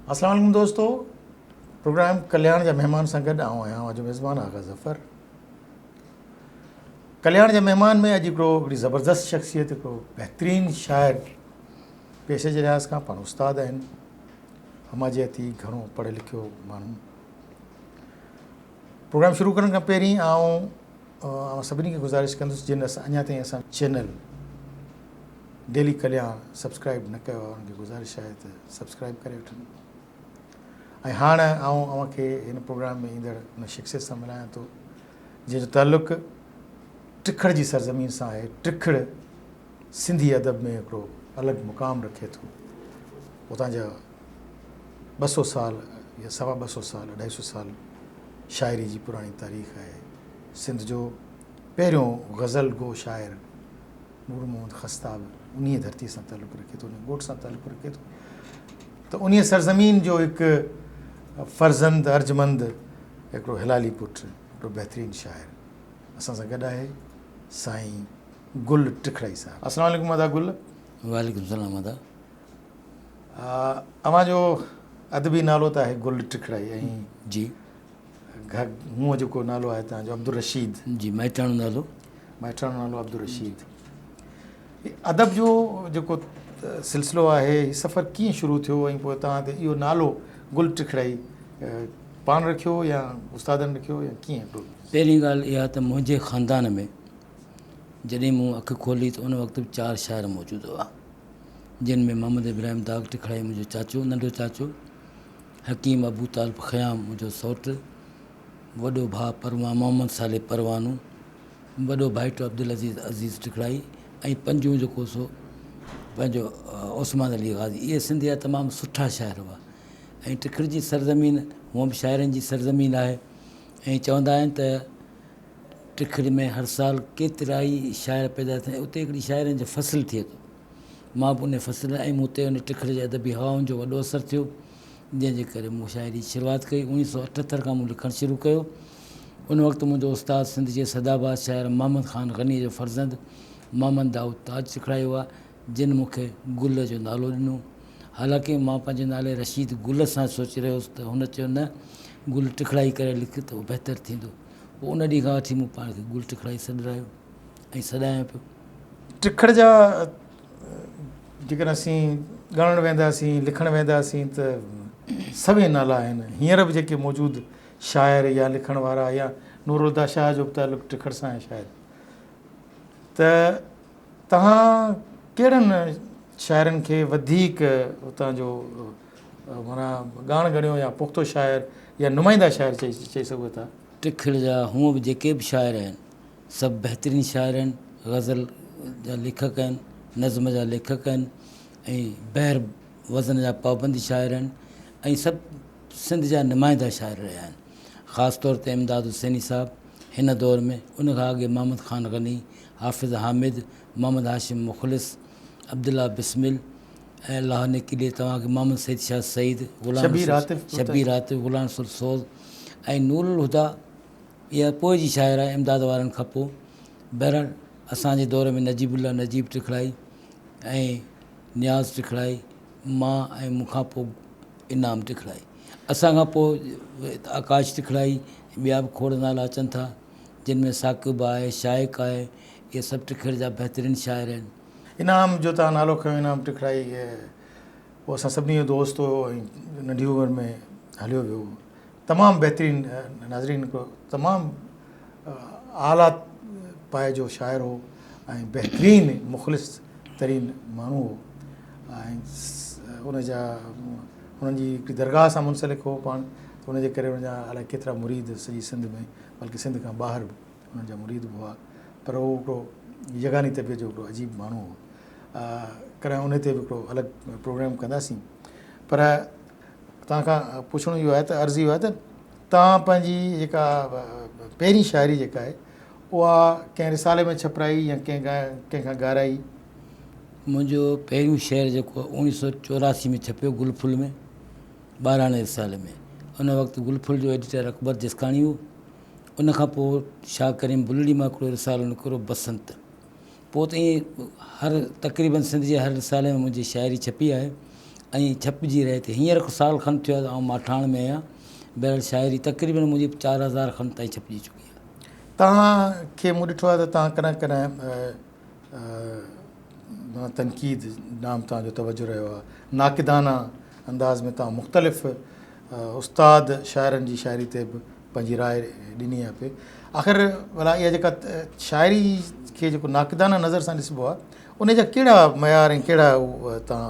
السلام عليڪم دوستو پروگرام ڪلياڻ جا مهمان سان گڏ آئون آهيان اوهان جو ميزبان آغا ظفر ڪلياڻ جا مهمان ۾ اڄ هڪڙو هڪڙي زبردست شخصيت هڪڙو بهترين شاعر پيشي جي لحاظ کان پاڻ استاد آهن هماجياتي گهڻو پڙهيو لکيو ماڻهو پروگرام شروع ڪرڻ کان پهرين آئون اوهان سڀني کي گذارش ڪندس جن اڃا تائين اسان چينل ڊيلي ڪلياڻ سبسڪرائب نه ڪيو آهي انهن کي گذارش آهي ته سبسڪرائب ڪري وٺن ۽ هاڻ آئون اوهان کي هن پروگرام ۾ ايندڙ ان شخصيت سان ملايان ٿو جنهن جو تعلق ٽکڙ جي سرزمين سان آهي ٽکڙ سنڌي ادب ۾ هڪڙو الڳ مقام رکي ٿو اتان جا ٻه سؤ سال يا سوا ٻه سؤ سال اڍائي سؤ سال شاعري جي پراڻي تاريخ آهي. سنڌ جو پهريون غزل گو شاعر نور محمد خستا به انهيء ڌرتيء سان تعلق رکي ٿو، انهيء ڳوٺ سان تعلق رکي ٿو ته انهيء سرزمين جو هڪ فرزند ارجمند هڪڙو هلالي پٽ هڪڙو بهترين شاعر اسان سان گڏ آهي سائين گل ٽکڙائي صاحب. السلام عليڪم ادا گل. وعليڪم السلام ادا. اوهان جو ادبي نالو ته آهي گل ٽکڙائي ۽ جي مون جيڪو نالو آهي تنهن جو عبدالرشيد جي مائٽاڻو نالو مائٽاڻو نالو عبدالرشيد ادب جو جيڪو سلسلو آهي هي سفر ڪيئن شروع ٿيو ۽ پوء تنهن تي اهو نالو گل ٽکڙائي پاڻ رکيو يا استادن رکيو يا ڪيئن پهرين ڳالهه اها ته منهنجي خاندان ۾ جڏهن مون اک کولي ته ان وقت چار شاعر موجود هئا جن ۾ محمد ابراهيم داغ ٽکڙائي منهنجو چاچو، ننڍو چاچو، حڪيم ابوطالب خيام منهنجو سئوٽ، وڏو ڀاء پروان محمد صالح پروانو، وڏو ڀائٽو عبدالعزيز عزيز ٽکڙائي ۽ پنجون جيڪو سو پنهنجو عثمان علي غازي. اهي سنڌ جا تمام سٺا شاعر هئا ۽ ٽکڙ جي سرزمين هونئن به شاعرن جي سرزمين آهي ۽ چوندا آهن ته ٽکڙ ۾ هر سال ڪيترائي شاعر پيدا ٿيندا آهن. اتي هڪڙي شاعرن جو فصل ٿئي ٿو. مان به انهيء فصل ۾ هيم. اتي هن ٽکڙ جي ادبي هوائن جو وڏو اثر ٿيو، جنهن جي ڪري مون شاعري جي شروعات ڪئي. اوڻيهه سؤ اٺهتر کان مون لکڻ شروع ڪيو. ان وقت منهنجو استاد سنڌ جي سدا باد شاعر محمد خان غنيء جو فرزند محمد دائود تاج سکڙائي هئا، جن مون کي گل جو نالو ڏنو. حالانڪه مان پنهنجي نالي رشيد گل سان سوچي رهيو هوس ته هن چيو نه گل ٽکڙائي ڪري لک ته اهو بهتر ٿيندو. پوء ان ڏينهن کان وٺي مون پاڻ کي گل ٽکڙائي سڏرايو ۽ سڏايان پيو. ٽکڙ جا جيڪڏهن اسين ڳڻڻ وينداسين، لکڻ وينداسين ته سوين نالا آهن. هينئر به جيڪي موجود شاعر يا لکڻ وارا يا نورالهديٰ شاهه جو به تعلق ٽکڙ سان آهي شايد ته توهان ڪهڙن شاعرن کي وڌيڪ اتان جو معنيٰ ڳاڻ ڳڻيو يا پختو شاعر يا نمائنده شاعر چئي سگهو ٿا. ٽکڙ جا هونء به جيڪي به شاعر آهن سڀ بهترين شاعر آهن، غزل جا ليکڪ آهن، نظم جا ليکڪ آهن ۽ بحر وزن جا پابند شاعر آهن ۽ سڀ سنڌ جا نمائنده شاعر رهيا آهن. خاص طور تي امداد حسيني صاحب هن دور ۾ ان کان اڳي محمد خان غني، حافظ حامد، محمد هاشم مخلص، عبدالله بسمل، ۽ لاهه نڪي ڏي توهان کي محمد سيد شاهه سعيد، غلام شبير عاطف رسول شبير ترسي. عاطف، غلام رسول سوز ۽ نور الهديٰ اها پوء جي شاعر آهي امداد وارن کان پوء. بهرحال اسان جي دور ۾ نجيب الله نجيب ٽکڙائي ۽ نياز ٽکڙائي مان ۽ مون کان پوء انعام ٽکڙائي اسان کان پوء آڪاش ٽکڙائي ٻيا به کوڙ نالا اچن ٿا جن ۾ ثاقب آهي شائق آهي اهي سڀ ٽکڙ جا بهترين شاعر آهن. انعام جو تان نالو کنيو انعام ٽکڙائي اهو اسان سڀني جو دوست هو ۽ ننڍي عمر ۾ هليو ويو تمام بهترين ناظرين هڪڙو تمام اعليٰ پايي جو شاعر هو ۽ بهترين مخلص ترين ماڻهو هو ۽ ان جا انهن جي هڪڙي درگاهه سان منسلڪ هو پاڻ ان جي ڪري ان جا الائي ڪيترا مريد سڄي سنڌ ۾ بلڪه سنڌ کان ٻاهر به انهن جا مريد به هئا پر هو هڪڙو يگاني طبيعت جو هڪڙو عجيب ماڻهو هو. ڪڏهن انهي تي به هڪڙو الڳ پروگرام ڪنداسين پر توهان کان پڇڻو اهو آهي ته عرض اهو آهي ته توهان پنهنجي جيڪا پهرين شاعري جيڪا آهي اها ڪنهن رسالي ۾ ڇپرائي يا ڪنهن ڪنهن کان گارائي؟ منهنجو پهريون شعر جيڪو آهي اوڻيهه سو چوراسي ۾ ڇپيو گل ڦل ۾ ٻاراڻي رسالي ۾ ان وقت گل ڦل جو ايڊيٽر اڪبر جسڪاڻي هو ان کان پوء شاهه ڪريم بلڙي مان هڪڙو رسالو نڪرو بسنت. پوء ته ائين هر تقريبن سنڌ جي هر رسالي ۾ منهنجي شاعري ڇپي آهي ۽ ڇپجي رهي ٿي. هينئر ڪو سال کن ٿيو آهي ته آئون ماٺاڻ ۾ آهيان. بهرحال شاعري تقريبن منهنجي چار هزار کن تائين ڇپجي چڪي آهي. توهان کي مون ڏٺو آهي ته توهان ڪڏهن ڪڏهن ڏانهن تنقيد ڏانهن توهان جو توجه رهيو آهي ناقدانه انداز ۾ توهان مختلف استاد شاعرن جي شاعري تي به پنهنجي راء ڏني آهي پئي آخر ڀلا اها جيڪا شاعري کي جيڪو ناقدانه نظر سان ڏسبو آهي ان جا ڪهڙا معيار ۽ ڪهڙا تان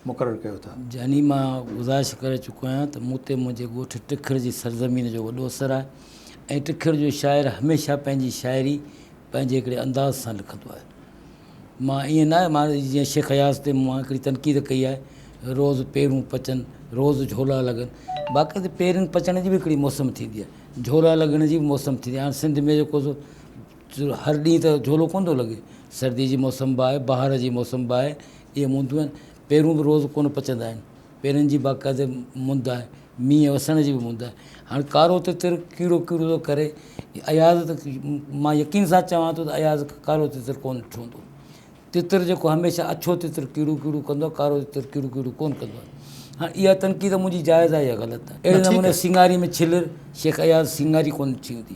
مقرر ڪيو ٿا. جاني مان گذارش ڪري چڪو آهيان ته مون تي منهنجي ڳوٺ ٽکڙ جي سرزمين جو وڏو اثر آهي ۽ ٽکڙ جو شاعر هميشه پنهنجي شاعري پنهنجي هڪڙي انداز سان لکندو آهي مان ائين ناهي مان جيئن شيخ اياز تي مون هڪڙي تنقيد ڪئي آهي روز پيرون پچن روز جهولا لڳن باقي ته پيرن پچڻ جي به هڪڙي موسم ٿيندي آهي جهولا لڳڻ جي به موسم ٿيندي آهي هاڻ سنڌ ۾ جيڪو هر ڏينهن ته جهولو ڪونه ٿو لڳي سردي جي موسم به آهي بهار جي موسم به آهي اهي موندون آهن. پيرون به روز ڪونه پچندا آهن. پيرن جي باقاعدي موند آهي. مينهن وسڻ جي به موند آهي. هاڻ ڪارو تتر ڪيڙو ڪيڙو ٿو ڪري. اياز ته مان يقين سان چوان ٿو ته اياز ڪارو تتر ڪونه ٺهندو. تتر جيڪو هميشه اڇو تتر ڪيڙو ڪيڙو ڪندو آهي، ڪارو تتر ڪيڙو ڪيڙو ڪونه ڪندو آهي. هاڻ اها تنقيد منهنجي جائز آهي يا غلط آهي؟ اهڙي نموني سينگاري ۾ ڇلر شيخ اياز سينگاري ڪونه ٿي هوندي.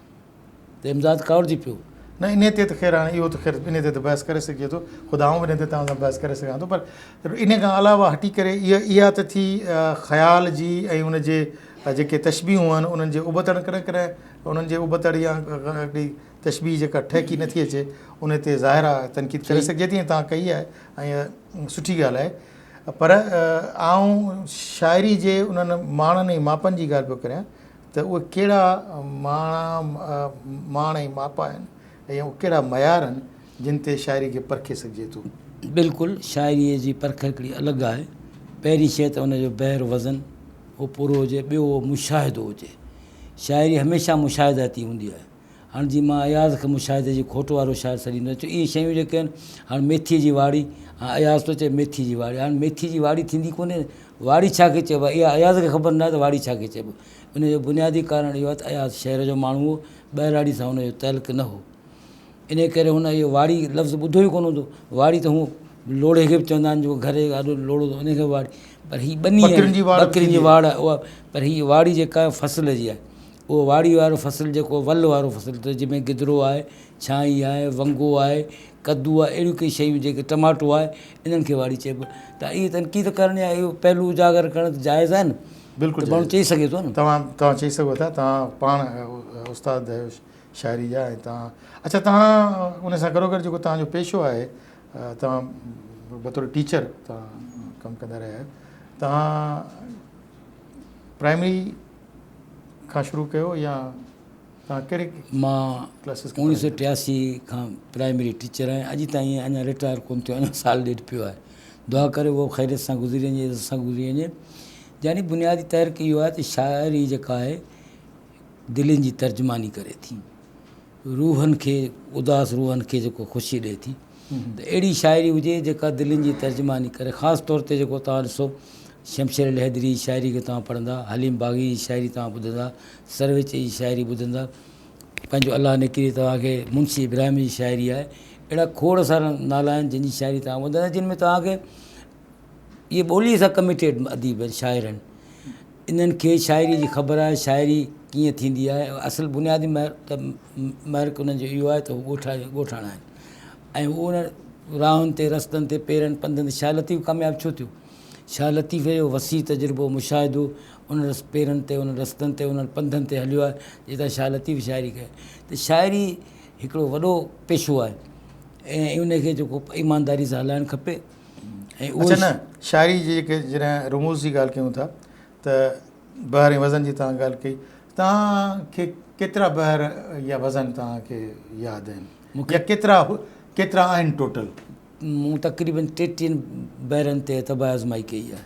ته امداد ڪاوڙجي پيو. نه انهيء تي ته خير هاڻي اهو ته خير انهيء تي ته بحث ڪري سگهجي ٿو، خود آئون به انهيء تي توهان سان بحث ڪري سگهان ٿو پر انهيء کان علاوه هٽي ڪري اها ته ٿي خيال جي ۽ ان جي جيڪي تشبيهون آهن انهن جي ابتڙ ڪڏهن ڪڏهن انهن جي ابتڙ يا هڪڙي تشبيهه جيڪا ٺهڪي نه ٿي اچي انهيء تي ظاهر آهي تنقيد ڪري سگهجي ٿي ۽ توهان ڪئي آهي ۽ اها سٺي ڳالهه آهي پر آئون شاعري جي انهن ماڻن ۽ ماپن جي ڳالهه پيو ڪريان ته اهي ڪهڙا ماڻا ماڻ ۽ ماپ آهن ۽ اهي ڪهڙا معيار آهن، جن تي شاعري کي پرکي سگهجي ٿو؟ بلڪل، شاعريء جي پرک هڪڙي الڳ آهي. پهرين شيء ته ان جو بحر وزن اهو پورو هجي، ٻيو اهو مشاهدو هجي. شاعري هميشه مشاهداتي هوندي آهي. هاڻ جي مان اياز کي مشاهدي جي کوٽ وارو شاعر سڏيندو آهيان، اهي شيون جيڪي آهن، هاڻ ميٿيء جي واڙي، هاڻ اياز ٿو چئي ميٿيء جي واڙي، هاڻ ميٿيء جي واڙي ٿيندي ڪونهي، واڙي ڇا کي چئبو آهي، اها اياز کي خبر ناهي ته واڙي ڇا کي چئبو، ان جو بنيادي ڪارڻ اهو آهي ته اياز شهر جو ماڻهو هو، ٻهراڙي سان هن جو تعلق نه هو، انهيء ڪري هن اهو واڙي لفظ ٻڌو ئي ڪونه هوندو، واڙي ته هونء لوڙهي کي به چوندا آهن، جيڪو گهر جي آڏو لوڙهو هوندو آهي، انهيء کي به واڙي، پر هي ٻنيء جي، ٻڪرين جي واڙ، پر هيء واڙي جيڪا آهي فصل جي آهي، اهو واڙي وارو فصل جيڪو ول وارو فصل ته جنهن ۾ گدرو آهي ڇانئي آهي ونگو آهي ڪدو آهي اهڙيون ڪئي شيون جيڪي ٽماٽو آهي انهن کي واڙي چئبو ته اهي تنقيد ڪرڻ يا اهو پهلو اجاگر ڪرڻ ته جائز آهي نه بلڪل ته ماڻهو چئي سگهي ٿو نه توهان توهان چئي سگهو ٿا توهان پاڻ استاد آهيو شاعري جا ۽ توهان اڇا توهان ان سان گڏو گڏ جيڪو توهان جو پيشو آهي توهان بطور ٽيچر توهان ڪم ڪندا رهيا آهيو توهان پرائمري کان شروع ڪيو يا توهان ڪهڙي مان ڪلاسز کي اوڻيهه سؤ ٽياسي کان پرائمري ٽيچر آهيان اڄ تائين اڃا رٽائر ڪونه ٿيو اڃا سال ڏيڍ پيو آهي دعا ڪريو اهو خيريت سان گذري وڃي عزت سان گذري وڃي يعني بنيادي تحرڪ اهو آهي ته شاعري جيڪا آهي دلين جي ترجماني ڪري ٿي روحن کي اداس روحن کي جيڪو خوشي ڏئي ٿي ته اهڙي شاعري هجي جيڪا دلين جي ترجماني ڪري خاص طور تي جيڪو توهان ڏسو شمشير علي حيدري جي شاعري کي توهان پڙهندا حليم باغي جي شاعري توهان ٻڌندا سرويچي جي شاعري ٻڌندا پنهنجو الله نڪري توهان کي منشي ابراهيم جي شاعري آهي اهڙا کوڙ سارا نالا آهن جن جي شاعري توهان ٻڌندا جن ۾ توهان کي اهي ٻوليء سان ڪميٽيڊ اديب آهن، شاعر آهن. انهن کي شاعريء جي خبر آهي، شاعري ڪيئن ٿيندي آهي. اصل بنيادي محرڪ انهن جو اهو آهي ته هو ڳوٺاڻا آهن ۽ هو انهن راهن تي، رستن تي، پيرن پنڌن تي شاهه لطيف ڪامياب ڇو ٿيو؟ شاهه لطيف جو وسيع تجربو، مشاهدو انهن پيرن تي، انهن رستن تي، انهن پنڌن تي هليو آهي، جتان شاهه لطيف شاعري ڪئي. ته شاعري هڪڙو وڏو پيشو آهي ۽ ان کي جيڪو ايمانداريء سان هلائڻ کپي. اڇا نه شاعري جي جيڪي جڏهن رموز جي ڳالهه ڪيون ٿا ته بحر ۽ وزن جي توهان ڳالهه ڪئي توهان کي ڪيترا بحر يا وزن توهان کي ياد آهن يا ڪيترا ڪيترا آهن ٽوٽل مون تقريبن ٽيٽيهن بحرن تي طبع آزمائي ڪئي آهي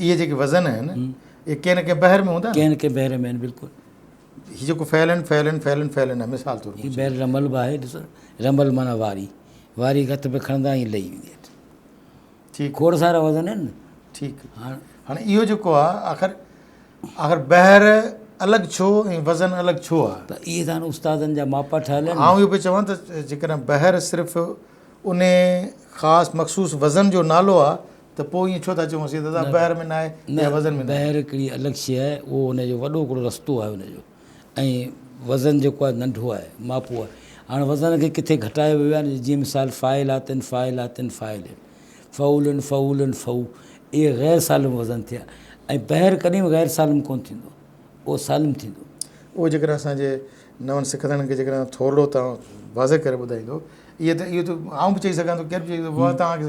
اهي جيڪي وزن آهن اهي ڪنهن نه ڪنهن بحر ۾ هوندا آهن ڪنهن نه ڪنهن بحر ۾ آهن بلڪل هي جيڪو فعلن فعلن فعلن فعلن آهي مثال طور هي بحر رمل به آهي ڏسو رمل معنيٰ واري واري هٿ ۾ کڻندا آهيون لهي ويندي اٿ ٺيڪ کوڙ سارا وزن آهن ٺيڪ هاڻ هاڻي اهو جيڪو آهي آخر آخر بحر الڳ ڇو ۽ وزن الڳ ڇو آهي ته اهي سان استادن جا ماپا ٺهيل آهن آئون اهو پيو چوان ته جيڪڏهن بحر صرف ان خاص مخصوص وزن جو نالو آهي ته پوء ائين ڇو ٿا چئون اسين ته ادا بحر ۾ ناهي يا وزن ۾ ناهي. بحر هڪڙي الڳ شيء آهي، اهو ان جو وڏو هڪڙو رستو آهي ان جو ۽ وزن جيڪو آهي ننڍو آهي، ماپو آهي. هاڻ وزن کي ڪٿي گهٽايو ويو آهي نه جيئن مثال فاعلاتً فاعلاتً فاعلين، فعولًا فعولًا فعو اهي غير سالم وزن ٿيا ۽ بحر ڪڏهن به غير سالم ڪونه ٿيندو، اهو سالم ٿيندو. اهو جيڪڏهن اسان جي نون سکندڙن کي جيڪڏهن ٿورڙو توهان واضح ڪري ٻڌائيندو اهي ته اهو ته آئون به چئي سگهان ٿو ڪير به چئي سگهي ٿو واهه توهان کي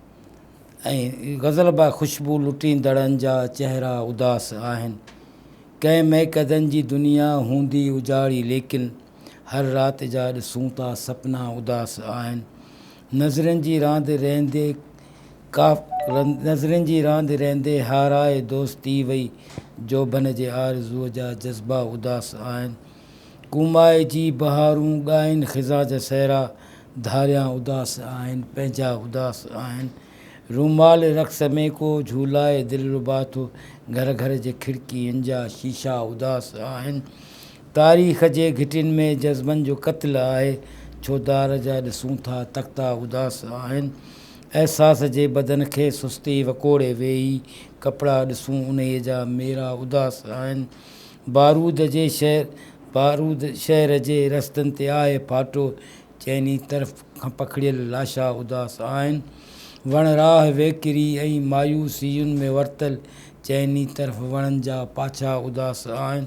۽ غزل با خوشبو لٽيندڙن جا چهرا اداس آهن ڪنهن مئڪدن جي دنيا هوندي اجاڙي ليڪن هر رات جا ڏسون ٿا سپنا اداس آهن نظرين جي راند رهندي ڪاف نظرين جي راند رهندي هارائي دوستي وئي جوڀن جي آرزو جا جذبا اداس آهن ڪومائي جي بهارون ڳائين خزان جا صحرا ڌاريان اداس آهن پنهنجا اداس آهن رومال رقص ۾ ڪو جهولائي دلربا ٿو گهر گهر جي کڙڪين جا شيشا اداس آهن تاريخ جي گهٽين ۾ جذبن جو قتل آهي ڇودار جا ڏسون ٿا تختا اداس آهن احساس جي بدن کي سستي وڪوڙي ويهي ڪپڙا ڏسون انهي جا ميرا اداس آهن بارود جي شهر بارود شهر جي رستن تي آهي ڦاٽو، چئني طرف کان پکڙيل لاشا اداس آهن، وڻ راهه ويڪري ۽ مايوسين ۾ ورتل، چئني طرف وڻن جا پاڇا اداس آهن،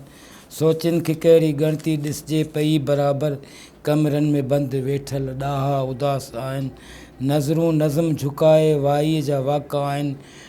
سوچين کي ڪهڙي ڳڻتي ڏسجي پئي برابر، ڪمرن ۾ بند ويٺل ڏاها اداس آهن، نظرون نظم جهڪائي وائيء جا واڪا آهن،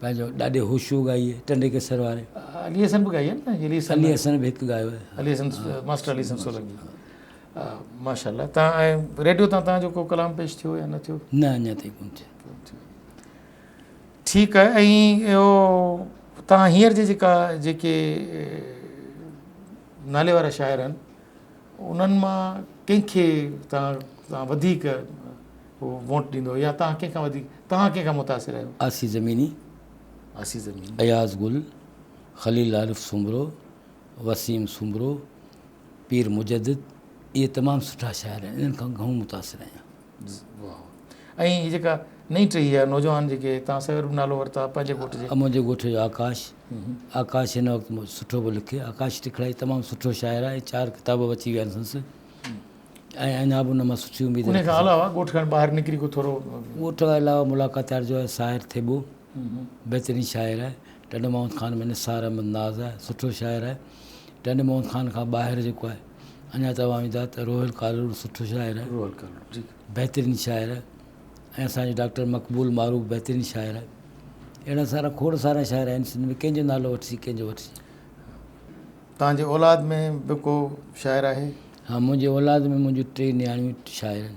پنهنجو ڏاڏي هوشو ڳائي آهي ٽنڊي ڪيسر واري. علي حسن به ڳائي آهي نه علي حسن. علي حسن به هڪ ڳايو آهي. علي حسن ماسٽر علي حسن سولنگي ماشاء الله تان ۽ ريڊيو تان تان جو ڪو ڪلام پيش ٿيو يا نه ٿيو. نه اڃا تائين ڪون ٿيو. ٺيڪ آهي ۽ اهو تان هينئر جي جيڪا جيڪي نالي وارا شاعر آهن. انهن مان ڪنهن کي توهان توهان وڌيڪ ووٽ ڏيندو يا توهان ڪنهن کان وڌيڪ توهان ڪنهن کان متاثر آهيو؟ آصي زميني، آصي زميني. اياز گل، خليل عارف سومرو، وسيم سومرو، پير مجدد اهي تمام سٺا شاعر آهن انهن کان گهڻو متاثر آهيان. ۽ هي جيڪا نئين ٽهي يا نوجوان جيڪي تان سيد رب نالو ورتا پنهنجي ڳوٺ جي. منهنجي ڳوٺ جو آڪاش آڪاش هن وقت سٺو پيو لکي آڪاش ٽکڙائي تمام سٺو شاعر آهي چار ڪتاب به اچي ويا آهن سندس ۽ اڃا به ان مان سٺي اميد ان کان علاوه ڳوٺ کان ٻاهر نڪري ڪو ٿورو ڳوٺ کان علاوه ملاقاتيار جو آهي ساحر ٿيٻو بهترين شاعر آهي ٽنڊو محمد خان ۾ نثار احمد ناز آهي سٺو شاعر آهي ٽنڊو محمد خان کان ٻاهر جيڪو آهي اڃا چوان ويندا ته روحل ڪالهوڙو سٺو شاعر آهي روحل ڪالهوڙو بهترين شاعر آهي ۽ اسان جو ڊاڪٽر مقبول معروف بهترين شاعر آهي اهڙا سارا کوڙ سارا شاعر آهن سنڌ ۾ ڪنهن جو نالو وٺجي ڪنهن جو وٺجي تان جي اولاد ۾ به ڪو شاعر آهي ها منهنجي اولاد ۾ منهنجي ٽي نياڻيون شاعر آهن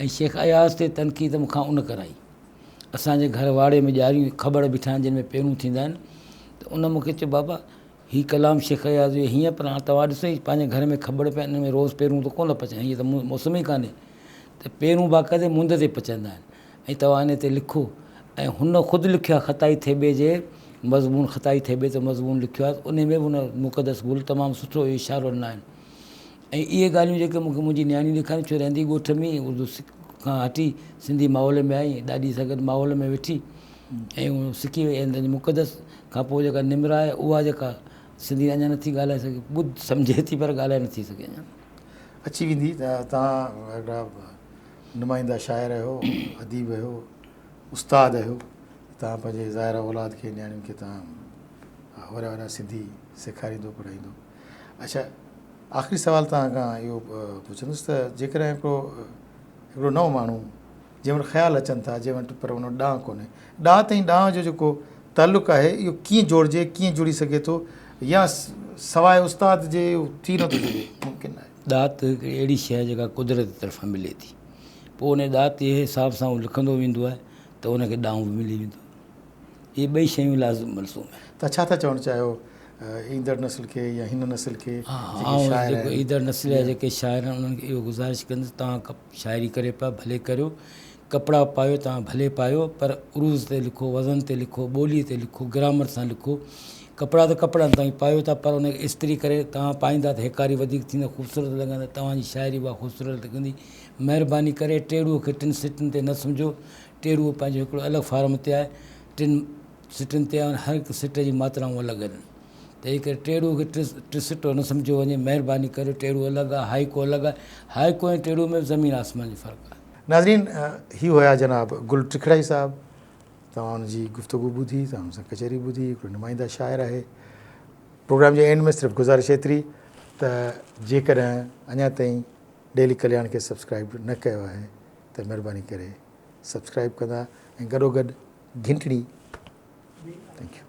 ۽ شيخ اياز تي تنقيد مون کان ان ڪرائي. اسان جي گهر واڙي ۾ ڄاريون کٻڙ بيٺا آهن جن ۾ پيرون ٿيندا آهن ته ان مون کي چيو بابا هي ڪلام شيخ اياز جو هيئن پر هاڻ توهان ڏسو هي پنهنجي گهر ۾ کٻڙ پيا آهن ان ۾ روز پيرون ته ڪونه پچن هيئن ته موسم ئي ڪانهي ته پيرون باقاعدي مند تي پچندا آهن ۽ توهان ان تي لکو ۽ هن خود لکيو آهي خطائي ٿيٻي جي مضمون خطائي ٿيٻي تي مضمون لکيو آهي ان ۾ به ان مقدس گل تمام سٺو اشارو ڏنائين ۽ اهي ڳالهيون جيڪي مون کي منهنجي نياڻي ڏيکاريون، ڇو رهندي ڳوٺ ۾ ئي اردو کان هٽي سنڌي ماحول ۾ آئي، ڏاڏي سان گڏ ماحول ۾ ويٺي ۽ اهو سکي وئي ۽ تنهنجي مقدس کان پوء جيڪا نمرا آهي اها جيڪا سنڌي اڃا نه ٿي ڳالهائي سگهي، ٻڌ سمجهي ٿي پر ڳالهائي نه ٿي سگهي اڃا. اچي ويندي ته توهان هڪڙا نمائنده شاعر آهيو، اديب آهيو، استاد آهيو ته توهان پنهنجي ظاهره اولاد کي نياڻين کي توهان اوريا اوريا سنڌي سيکاريندو پڙهائيندو. اچا آخري سوال توهان کان اهو پڇندس ته جيڪڏهن هڪڙو هڪڙو نئون ماڻهو جنهن وٽ خيال اچن ٿا جنهن وٽ پر ان وٽ ڏانء ڪونهي ڏانء تائين ڏانء جو جيڪو تعلق آهي اهو ڪيئن جوڙجي ڪيئن جڙي سگهي ٿو يا سواء استاد جي ٿي نه ٿو سگهي ممڪن آهي ڏات هڪڙي اهڙي شي آهي جيڪا قدرت طرفان ملي ٿي پوء ان ڏات جي حساب سان هو لکندو ويندو آهي ته ان کي ڏانء به ملي ويندو اهي ٻئي شيون لازم ملزوم آهن. توهان ڇا ٿا چوڻ چاهيو ايندڙ نسل کي يا هن نسل کي جيڪي شاعر آهن. ايندڙ نسل جا جيڪي شاعر آهن انهن کي اهو گذارش ڪندس توهان شاعري ڪريو پيا ڀلي ڪريو ڪپڙا پايو توهان ڀلي پايو پر عروض تي لکو وزن تي لکو ٻولي تي لکو گرامر سان لکو ڪپڙا ته ڪپڙا آهن توهان پايو ٿا پر انکي استري ڪري توهان پائيندا ته هيڪاري وڌيڪ ٿيندو خوبصورت لڳندا توهان جي شاعري اها خوبصورت لڳندي مهرباني ڪري ٽيڙوء کي ٽن سٽن تي نه سمجهو ٽيرو پنهنجو هڪڙو الڳ فارم تي آهي، ٽن سٽن تي آهن، هر هڪ سٽ جي ماترائون الڳ آهن، تنهن ڪري ٽيرو کي ٽي سٽو نه سمجهيو وڃي، مهرباني ڪري ٽيرو الڳ آهي، هائيڪو الڳ آهي، هائيڪو ۽ ٽيرو ۾ به زمين آسمان جو فرق آهي. ناظرين هي هيا جناب گل ٽکڙائي صاحب توهان ان جي گفتگو ٻڌي توهان ان سان ڪچهري ٻڌي هڪڙو نمائنده شاعر آهي پروگرام جي اينڊ ۾ صرف گذارش ايتري ته جيڪڏهن اڃا تائين ڊيلي ڪلياڻ کي سبسڪرائيب نه ڪيو آهي ته مھرباني ڪري سبسڪرائب ڪندا ۽ گڏو گڏ گھنٽڙي Thank you.